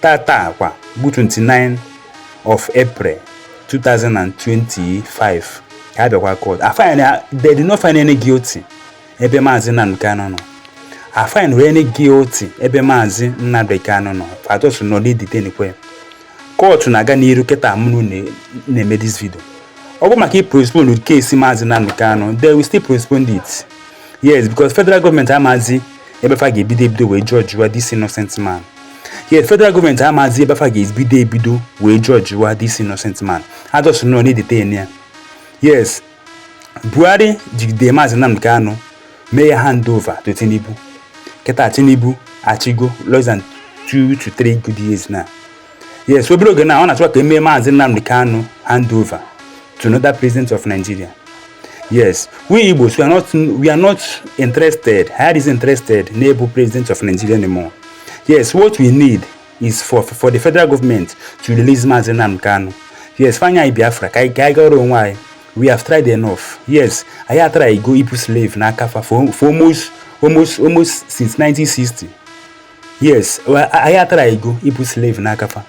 tata kwa bụ 29 of April 2025 ka a bịakwa court a find they did not find any guilty ebe maazị Nnamdi Kanu nọ a find wee any guilty ebe maazị Nnamdi Kanu nọ fa just nọ na-edetainkwa court na-aga n'iru kịta mụ nọ na-eme this video ọ bụ maka ịpostpone case maazị Nnamdi Kanu they will still postpone it yes because federal government amazi ebe fa ga-ebido ebido wee jọjụwa this innocent man yes federal government amazi ebe fa ga-ebido ebido wee jọjụwa this innocent man ha just nọ na-edetain ya yes Buhari jigide maazị Nnamdi Kanu mee ya hand over to Tinubu kịta Tinubu achịgo less than 2 to 3 good years now yes obere oge na ọ na-achọ ka e mee maazị Nnamdi Kanu hand over to another president of Nigeria yes we Igbos we are not we are not interested anyị adịzi interested n'ịbụ president of Nigeria anymore yes what we need is for for the federal government to release maazị Nnamdi Kanu yes fa nye anyị Biafra ka anyị gaara onwe anyị we have tried enough yes anyị atrygo ịbụ slave n'aka fa for almost almost almost since 1960 yes anyị atrygo ịbụ slave n'aka fa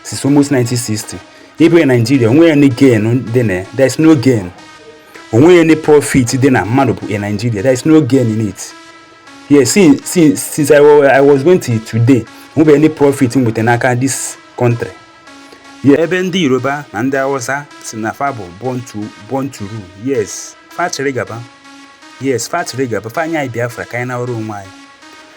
since almost 1960 ịbụ onye Nigeria o nweghị any gain dị na there is no gain o nweghị any profit dị na mmadụ bụ onye Nigeria there is no gain in it yes since, since, since I, I was born till today o nwebeghị any profit m nweta n'aka this country ebe ndị Yoruba na ndị Hausa sị na fa bụ born to rule yes fa chịrị gaba yes fa chịrị gaba fa nye anyị Biafra ka anyị nọrọ onwe anyị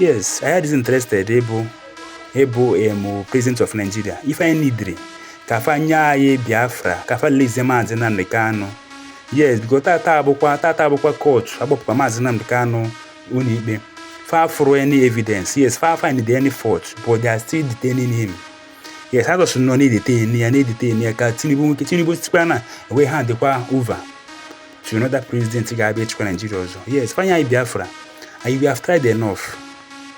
yes anyị adịzi interested ịbụ ịbụ em president of Nigeria ife anyị needịrị ka fa nye anyị Biafra ka fa releasie maazị Nnamdi Kanu yes biko tata abụkwa tata abụkwa court a kpọpụkwa maazị Nnamdi Kanu ụnọikpe fa afụrọ any evidence yes fa find any fault but they are still detaining him yes ha just nọ na-edetain ya na-edetain ya ka Tinubu nwoke Tinubu sikwara na e wee handịkwa over to another president ga-abịa ịchịkwa Nigeria ọzọ yes fa nye anyị Biafra and we have tried enough